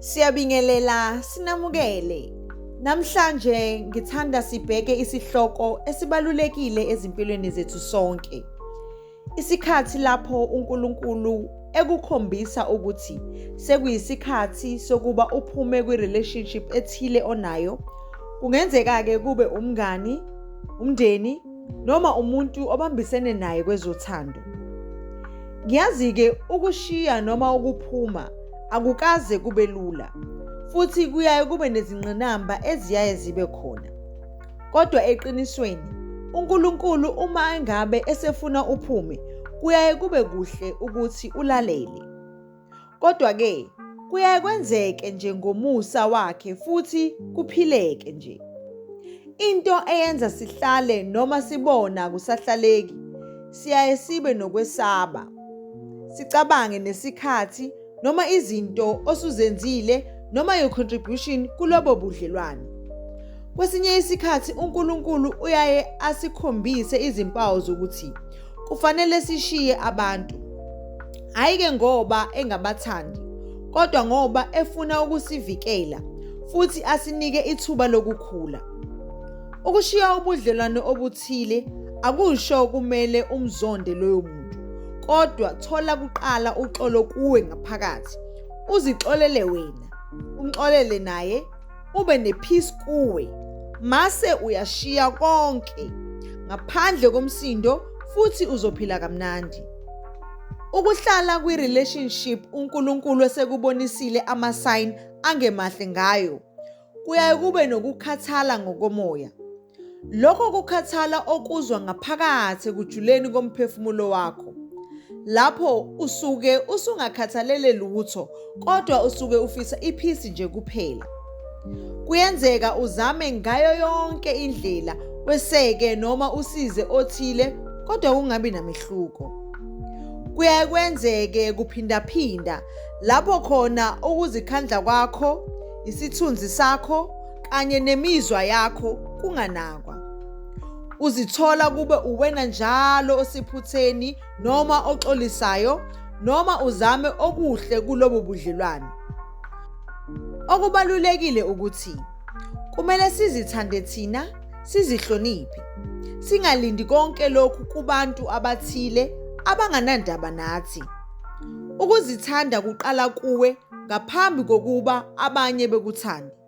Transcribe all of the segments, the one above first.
Siyabingelela sinamukele. Namhlanje ngithanda sibheke isihloko esibalulekile ezimpilweni zethu sonke. Isikhathi lapho uNkulunkulu ekukhombisa ukuthi sekuyisikhathi sokuba uphume kwi-relationship ethile onayo kungenzeka-ke kube umngani umndeni noma umuntu obambisene naye kwezothando. Ngiyazi-ke ukushiya noma ukuphuma akukaze kube lula futhi kuyaye kube nezingqinamba eziyaye zibe khona. Kodwa eqinisweni uNkulunkulu uma engabe esefuna uphume kuyaye kube kuhle ukuthi ulalele. Kodwa-ke kuyaye kwenzeke nje ngomusa wakhe futhi kuphileke nje. Into eyenza sihlale noma sibona kusahlaleki siyaye sibe nokwesaba. Sicabange nesikhathi noma izinto osuzenzile noma your contribution kulobo budlelwane. Kwesinye isikhathi uNkulunkulu uyaye asikhombise izimpawu zokuthi kufanele sishiye abantu. hhayi ke ngoba engabathandi kodwa ngoba efuna ukusivikela futhi asinike ithuba lokukhula. Ukushiya ubudlelwane obuthile akusho kumele umzonde loyo muntu kodwa thola kuqala uxolo kuwe ngaphakathi uzixolele wena umxolele naye ube nepeace kuwe mase uyashiya konke ngaphandle komsindo futhi uzophila kamnandi Ukuhlala kwi relationship uNkulunkulu esekubonisile ama sign angemahle ngayo. Kuyaye kube nokukhathala ngokomoya. Lokho kukhathala okuzwa ngaphakathi kujuleni komphefumulo wakho. Lapho usuke usungakhathalele lutho kodwa usuke ufisa iphisi nje kuphela kuyenzeka uzame ngayo yonke indlela weseke noma usize othile kodwa kungabi namehluko kuyaye kwenzeke kuphindaphinda lapho khona ukuzikhandla kwakho isithunzi sakho kanye nemizwa yakho kunganakwa uzithola kube uwena njalo osiphutheni noma oxolisayo noma uzame okuhle kulobu budlelwane okubalulekile ukuthi kumele sizithande thina sizihloniphe singalindi konke lokhu kubantu abathile abanganandaba nathi ukuzithanda kuqala kuwe ngaphambi kokuba abanye bekuthande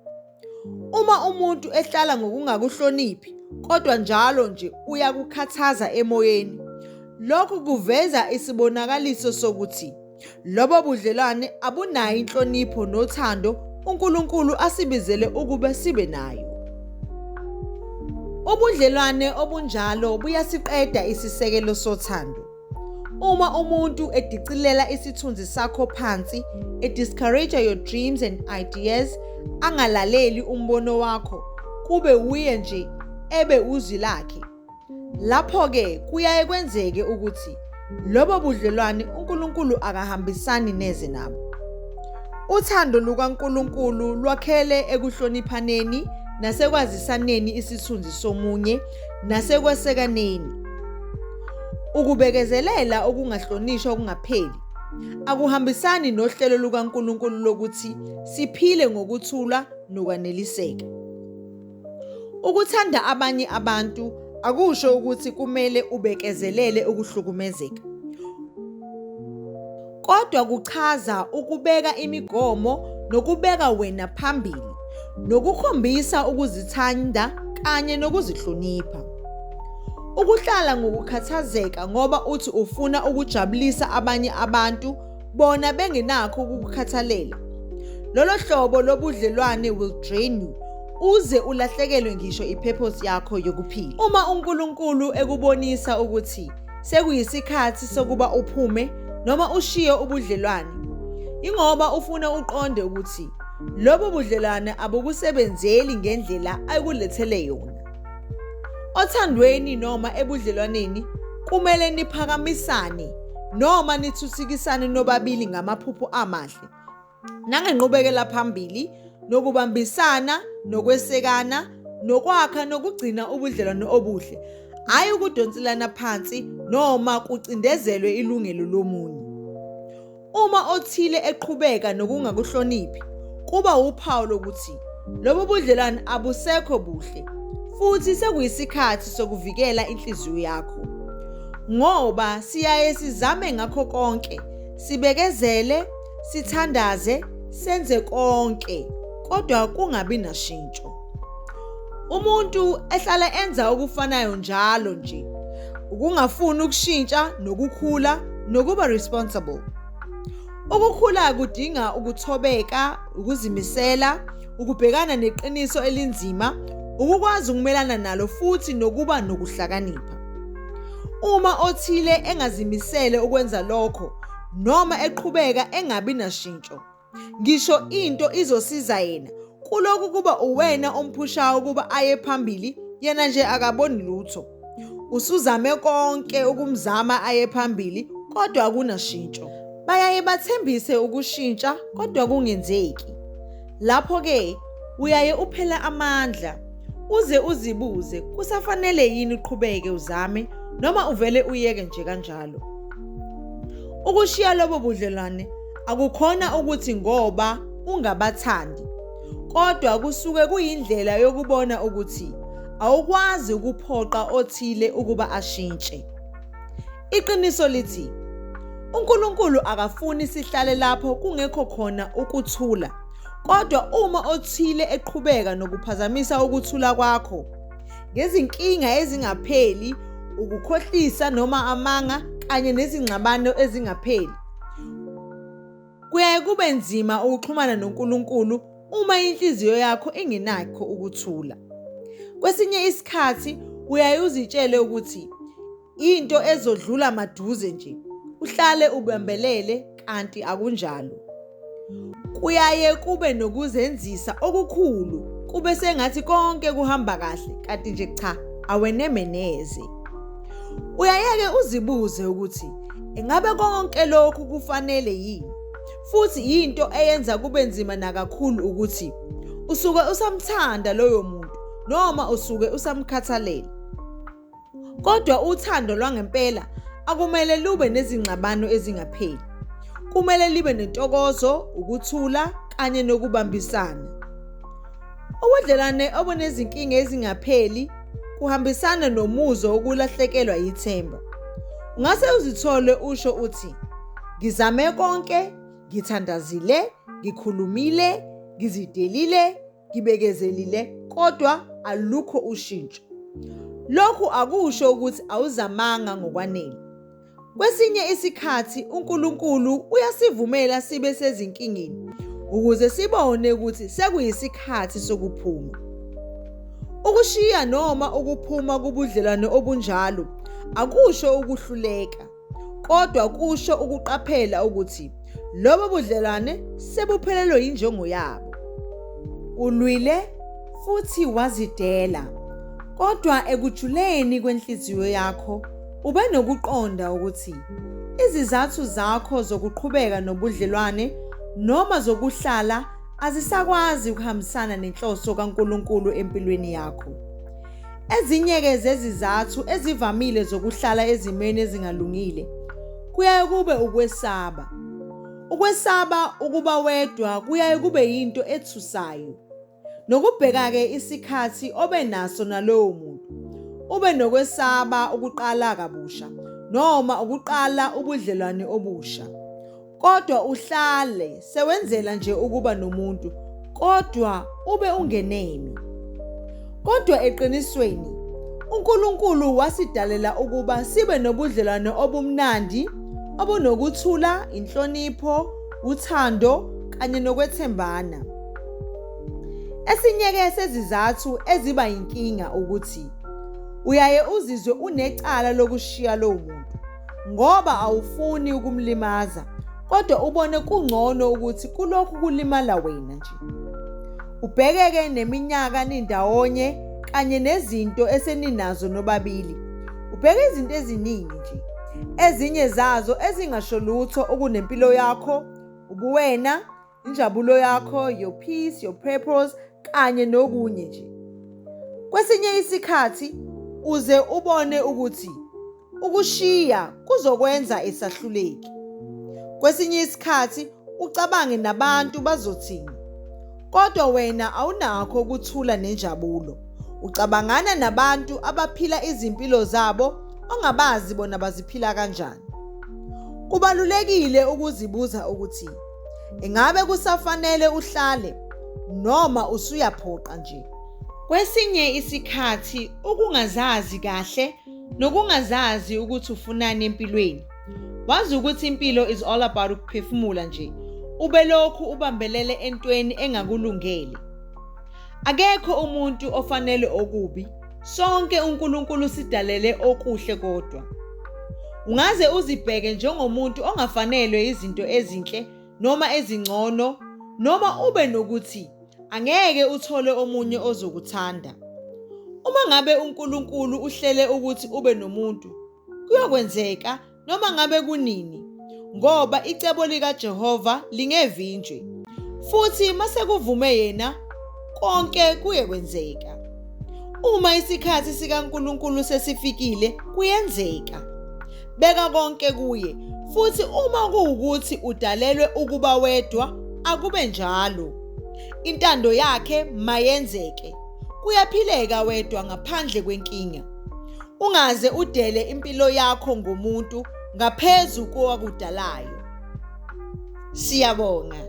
Uma umuntu ehlala ngokungakuhloniphi kodwa njalo nje uyakukhathaza emoyeni, lokhu kuveza isibonakaliso sokuthi lobo budlelwane abunayo inhlonipho nothando uNkulunkulu asibizele ukuba sibe nayo. Ubudlelwane obunjalo buyasiqeda isisekelo sothando. Uma umuntu edicilela isithunzi sakho phansi, e discourage your dreams and ideas, angalaleli umbono wakho, kube wuye nje ebe uzwi lakhe. Lapho ke kuyaye kwenzeke ukuthi lobo budlelwane uNkulunkulu akahambisani neze nabo. Uthando lukaNkulunkulu lwakhele ekuhloniphaneni nasekwazisaneni isithunzi somunye nasekwesekaneni. Ukubekezelela okungahlonishwa okungapheli akuhambisani nohlelo lukaNkulunkulu lokuthi siphile ngokuthula nokwaneliseka. Ukuthanda abanye abantu akusho ukuthi kumele ubekezelele ukuhlukumezeka. kodwa kuchaza ukubeka imigomo nokubeka wena phambili nokukhombisa ukuzithanda kanye nokuzihlonipha. Ukuhlala ngokukhathazeka ngoba uthi ufuna ukujabulisa abanye abantu bona bengenakho ukukukhathalela. Lolo hlobo lobudlelwane will drain you uze ulahlekelwe ngisho i-purpose yakho yokuphila. Uma uNkulunkulu ekubonisa ukuthi sekuyisikhathi sokuba uphume noma ushiye ubudlelwane ingoba ufuna uqonde ukuthi lobo budlelwane abukusebenzeli ngendlela ayikulethele yona othandweni noma ebudlelwaneni kumele niphakamisane noma nithuthikisane nobabili ngamaphupho amahle nangenqubekela phambili nokubambisana nokwesekana nokwakha nokugcina ubudlelwano obuhle hhayi ukudonselana phansi noma kucindezelwe ilungelo lomunye uma othile eqhubeka nokungakuhloniphi kuba wuphawu lokuthi lobu budlelwane abusekho buhle futhi sekuyisikhathi sokuvikela inhliziyo yakho ngoba siyaye sizame ngakho konke sibekezele sithandaze senze konke kodwa kungabi nashintsho umuntu ehlala enza okufanayo njalo nje ukungafuni ukushintsha nokukhula nokuba responsible ukukhula kudinga ukuthobeka ukuzimisela ukubhekana neqiniso elinzima ukukwazi ukumelana nalo futhi nokuba nokuhlakanipha uma othile engazimisele ukwenza lokho noma eqhubeka engabi nashintsho ngisho into izosiza yena kulokhu kuba uwena omphushayo ukuba aye phambili yena nje akaboni lutho usuzame konke ukumzama aye phambili kodwa akunashintsho bayaye bathembise ukushintsha kodwa kungenzeki Lapho-ke uyaye uphele amandla uze uzibuze kusafanele yini uqhubeke uzame noma uvele uyeke nje kanjalo. Ukushiya lobo budlelwane akukhona ukuthi ngoba ungabathandi kodwa kusuke kuyindlela yokubona ukuthi awukwazi ukuphoqa othile ukuba ashintshe. Iqiniso lithi uNkulunkulu akafuni sihlale lapho kungekho khona ukuthula. Kodwa uma othile eqhubeka nokuphazamisa ukuthula kwakho ngezinkinga ezingapheli, ukukhohlisa noma amanga kanye nezingxabano ezingapheli, kuyaye kube nzima ukuxhumana noNkulunkulu uma inhliziyo yakho ingenakho ukuthula. Kwesinye isikhathi uyaye uzitshele ukuthi into ezodlula maduze nje uhlale ubambelele kanti akunjalo kuyaye kube nokuzenzisa okukhulu kube sengathi konke kuhamba kahle kanti nje cha aweneme neze uyayeke uzibuze ukuthi engabe konke lokhu kufanele yini futhi yinto eyenza kube nzima nakakhulu ukuthi usuke usamthanda loyo muntu noma usuke usamkhathalela Kodwa uthando lwangempela akumele lube nezingxabano ezingapheli. Kumele libe nentokozo, ukuthula kanye nokubambisana. Ubudlelwane obunezinkinga ezingapheli kuhambisana nomuzwa wokulahlekelwa yithemba. Ungase uzithole usho uthi ngizame konke, ngithandazile, ngikhulumile, ngizidelile, ngibekezelile kodwa alukho ushintsho. Lokhu akusho ukuthi awuzamanga ngokwanele. Kwesinye isikhathi uNkulunkulu uyasivumela sibe sezinkingeni ukuze sibone ukuthi sekuyisikhathi sokuphuma. Ukushiya noma ukuphuma kubudlelwane obunjalo akusho ukuhluleka Kodwa kusho ukuqaphela ukuthi lobo budlelwane sebuphelelwe yinjongo yabo. Ulwile futhi wazidela. Kodwa ekujuleni kwenhliziyo yakho ube nokuqonda ukuthi izizathu zakho zokuqhubeka nobudlelwane noma zokuhlala azisakwazi ukuhambisana nenhloso kaNkulunkulu empilweni yakho. Ezinye-ke zezizathu ezivamile zokuhlala ezimweni ezingalungile kuyaye kube ukwesaba. Ukwesaba ukuba wedwa kuyaye kube yinto ethusayo. Nokubheka-ke isikhathi obe naso nalowo muntu. Ube nokwesaba ukuqala kabusha noma ukuqala ubudlelwane obusha. kodwa uhlale sewenzela nje ukuba nomuntu kodwa ube ungenemi kodwa eqinisweni uNkulunkulu wasidalela ukuba sibe nobudlelwane obumnandi obunokuthula inhlonipho uthando kanye nokwethembana esinyeke sezizathu eziba inkinga ukuthi uyaye uzizwe unecala lokushiya lowo muntu ngoba awufuni ukumlimaza kodwa ubone kungcono ukuthi kulokhu kulimala wena nje ubhekeke neminyaka nindawonye kanye nezinto eseninazo nobabili ubheke izinto eziningi nje ezinye zazo ezingasho lutho okunempilo yakho ubuwena injabulo yakho your peace your purpose kanye nokunye nje kwesinye isikhathi uze ubone ukuthi ukushiya kuzokwenza esahluleki kwesinye isikhathi ucabange nabantu bazothini kodwa wena awunakho ukuthula nenjabulo ucabangana nabantu abaphila izimpilo zabo ongabazi bona baziphila kanjani kubalulekile ukuzibuza ukuthi Ingabe kusafanele uhlale noma usuyaphoqa nje? Kwesinye isikhathi ukungazazi kahle nokungazazi ukuthi ufunani empilweni. Wazi ukuthi impilo is all about ukuphefumula nje. Ubelokhu ubambelele entweni engakulungele. Akekho umuntu ofanele okubi Sonke uNkulunkulu sidalele okuhle kodwa. Ungaze uzibheke njengomuntu ongafanelwe izinto ezinhle noma ezingcono noma ube nokuthi angeke uthole omunye ozokuthanda. Uma ngabe uNkulunkulu uhlele ukuthi ube nomuntu, kuyokwenzeka noma ngabe kunini, ngoba icebo likaJehova lingevinjwi, futhi masekuvume yena, konke kuye kwenzeka. Uma isikhathi sikaNkulunkulu sesifikile, kuyenzeka. Beka konke kuye, futhi uma kuwukuthi udalelwe ukuba wedwa, akube njalo. Intando yakhe mayenzeke. Kuyaphileka wedwa ngaphandle kwenkinga. Ungaze udele impilo yakho ngomuntu ngaphezu kowakudalayo. Siyabonga.